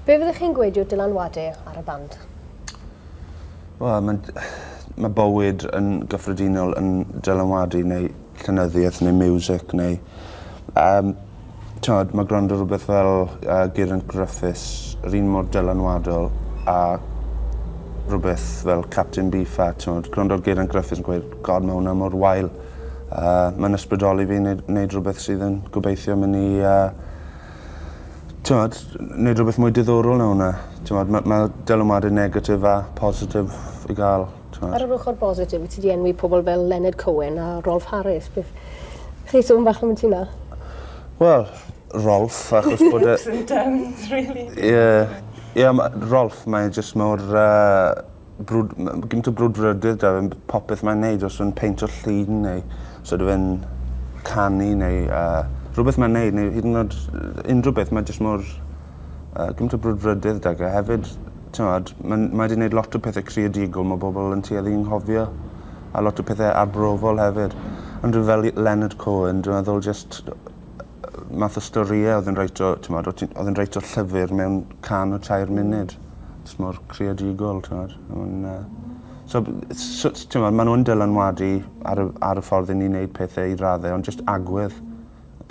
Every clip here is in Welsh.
Be fyddwch chi'n gweud yw dylanwade ar y band? Wel, mae'n... Mae bywyd yn gyffredinol yn dylanwadu neu llenyddiaeth neu music neu... Um, Tywed, mae gwrando rhywbeth fel uh, Geraint Gruffus yr un mor dylanwadol a rhywbeth fel Captain Beefheart. Tywed, gwrando ar Geraint Gruffus yn gweud, God, mae hwnna mor wael. Uh, mae'n ysbrydoli fi wneud, wneud rhywbeth sydd yn gobeithio mynd i... Uh, Tywed, wneud rhywbeth mwy diddorol na hwnna. Tywed, mae ma dylanwadau negatif a positif i gael. Tywed. Ar yr ochr bositif, wyt ti di enwi pobl fel Leonard Cohen a Rolf Harris. Beth... Chi sôn bach am y ti na? Wel, Rolf, achos bod e... Ups and downs, really. Ie. Yeah. Ie, yeah, Rolf, mae jyst mor... Uh, brwd- ma' ma' gint o brwdfrydedd 'da fe am b- popeth mae'n neud os yw e'n peintio llun neu os ydyw e'n canu neu yy rhywbeth mae'n neud neu hyd yn o'd yy unryw beth mae jyst mor yy gint o brwdfrydedd 'da ge hefyd t'mod ma'n mae 'di neud lot o pethe creadigol ma' bobol yn tueddu i 'nghofio a lot o pethe arbrofol hefyd. Ond rywun fel i- Leonard Cohen dwi meddwl jyst math o storie odd e'n reit o t'mod o' ti'n odd e'n reit o llyfyr mewn can o tair munud. Jys mor creadigol t'mod a ma' wnna... So b- yy so t- t'mod ma' n'w yn dylanwadu ar y ar y ffordd 'yn ni'n neud pethe i radde ond jyst agwedd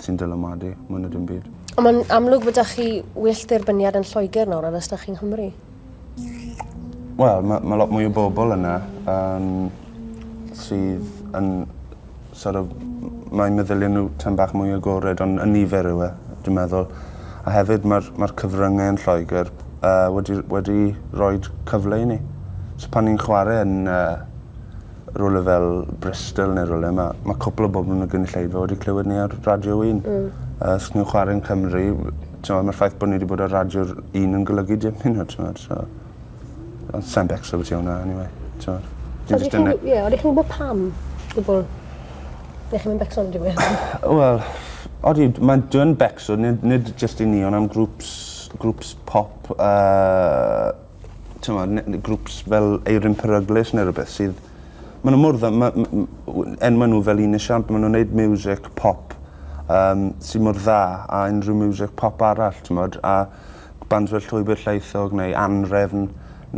sy'n dylanwadu mwy na dim byd. On' ma'n amlwg bo' 'dach chi well ddirbyniad yn Lloeger nawr na fysach chi yng Nghymru. Wel ma' ma' lot mwy o bobol yna yym sydd yn sor' of m- mae meddylie n'w tym bach mwy agored on' y nifer yw e dwi meddwl. A hefyd ma'r ma'r cyfrynge yn Lloeger yy wedi wedi roid cyfle i ni. So pan ni'n chware yn yy rywle fel Bristol ne' rywle ma' ma' cwpwl o bobol yn y gynulleidfa wedi clywed ni ar Radio Un. Hmm. A os ni'n chware yn Cymru w- t'mo' ma'r ffaith bo' ni 'di bod ar Radio'r Un yn golygu dim i n'w t'mod so. Ond sai'n becso abytu wnna eniwe t'mod. Dwi jyst yn yy... Ie odi chi'n gwbod pam gwbwl? Ne' chi'm yn becso am dim mwy? Wel odi d- ma'n dwi yn becso nid nid jyst i ni on' am grŵps grŵps pop a t'mod ne- ne' grŵps fel Eirin Peryglus ne' rwbeth sydd ma' n'w mor dda ma' m- m- w- enwe n'w fel un esiamp ma' nw'n neud miwsic pop yym sy mor dda â unryw miwsic pop arall t'mod a bands fel Llwybyr Llaethog neu Anhrefn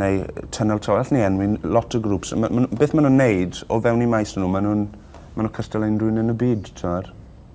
neu yy Tunnel to allwn i enwi n- lot o grŵps a ma' ma' n'w beth ma' nw'n neud o fewn 'u maes o n'w ma' nw'n ma' n'w cystal â unryw un yn y byd t'mod?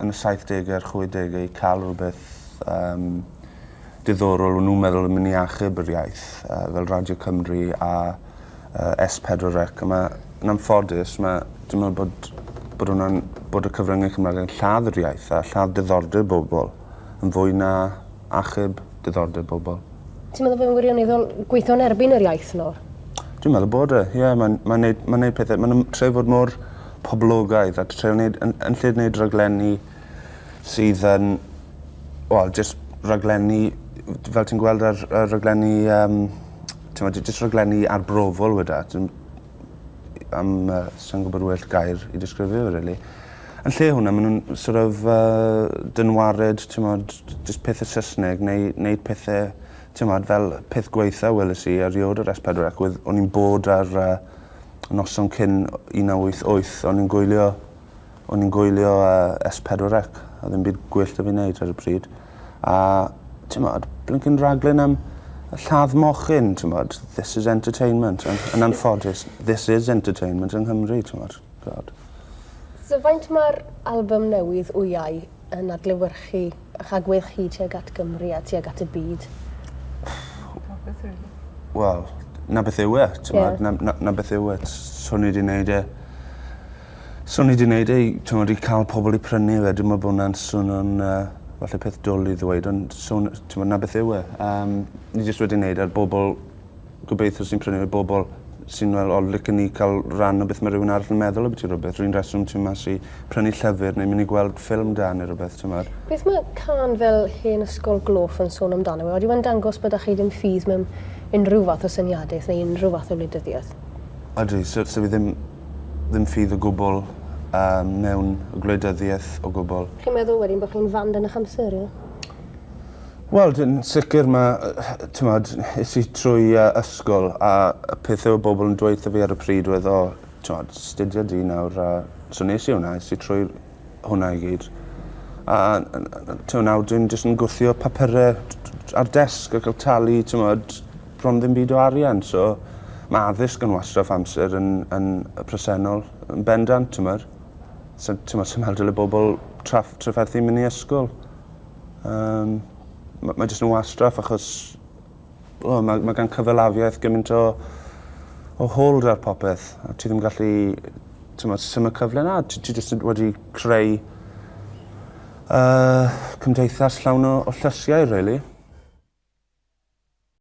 yn y saithdege a'r chwedege i ca'l rwbeth yym diddorol o'n nw'n meddwl yn myn' i achub yr iaith yy fel Radio Cymru a yy Ess Pedwar Ec a ma' yn anffodus ma' dwi me'wl bod bod wnna'n bod y cyfrynge Cymraeg yn lladd yr iaith a lladd diddordeb bobol yn fwy na achub diddordeb bobol. Ti'n meddwl bod e'n wirioneddol gweithio yn erbyn yr iaith nawr? Dwi'n meddwl bod e, ie. Mae'n ma neud, ma neud pethau... Maen nhw'n trio fod mor poblogaidd a trio neud... Yn, yn lle neud raglenni sydd yn, wel, jyst raglenni fel ti'n gweld ar ar raglenni yym t'mod jyst raglenni arbrofol weda. Dwi'm am yy sai'n gwbod well gair i disgrifio fe rili. Yn lle hwnna ma' nw'n sor' of yy dynwared t'mod j- j- jyst pethe Sysneg neu neud pethe t'mod fel y peth gwaetha weles i erioed ar Es Pedwar Ec oedd o'n i'n bod ar yy noson cyn o- un naw wyth wyth o'n i'n gwylio o'n i'n gwylio yy Es Pedwar Ec a ddim byd gwyllt 'da fi neud ar y pryd. a t'mod blincin raglen am y lladd mochyn t'mod this is entertainment yn yn anffodus this is entertainment yng Nghymru t'mod t'od. So faint ma'r albym newydd Wyau yn adlewyrchu 'ych agwedd chi tuag at Gymru a tuag at y byd? Popeth rili. Wel 'na beth yw e t'mod... Ie. ...na 'na 'na beth yw e s- s- swn i 'di neud e Swn i 'di neud e i t'mod i ca'l pobol i prynu fe dwi me'wl bo' wnna'n swno'n yy falle peth dwl i ddweud ond swn yy t'mod 'na beth yw e. Yym ni jyst wedi neud e ar bobol gobeithio sy'n prynu fe bobol sy'n me'wl o licen i ca'l ran o beth ma' rywun arall yn meddwl ambyti rwbeth run reswm ti mas i prynu llyfyr neu myn' i gweld ffilm da ne' rwbeth t'mod? Beth ma' cân fel Hen Ysgol Gloff yn sôn amdano yw e yn dangos bo' 'da chi ddim ffydd mewn unrhyw fath o syniadeth neu unrhyw fath o wleidyddiaeth? Odi so so fi ddim Ddim ffydd o gwbl yy mewn gwleidyddiaeth o gwbl. Chi'n meddwl wedyn bo' chi'n fand yn ych amser ie? Wel dwi'n sicir ma' yy t'mod es i trwy yy ysgol a y peth odd bobol yn dweutho fi ar y pryd oedd o t'mod 'studia di nawr a... So nes i wnna es i trwy'r hwnna i gyd. A t'mo' nawr dwi'n jyst yn gwthio papure ar desg a ca'l talu t'mod bron ddim byd o arian so ma' addysg yn wastraff amser yn yn y presennol yn bendant t'mod. So t'mo' swn me'wl dyle bobol traff- trafferthu myn' i ysgol. Yym ma' mae jyst yn wastraff achos O, mae, mae gan cyfalafiaeth gymaint o, o hold ar popeth, a ti ddim gallu, ti'n meddwl, sy'n y cyfle na, ti, ti jyst wedi creu uh, cymdeithas llawn o, o llysiau, really.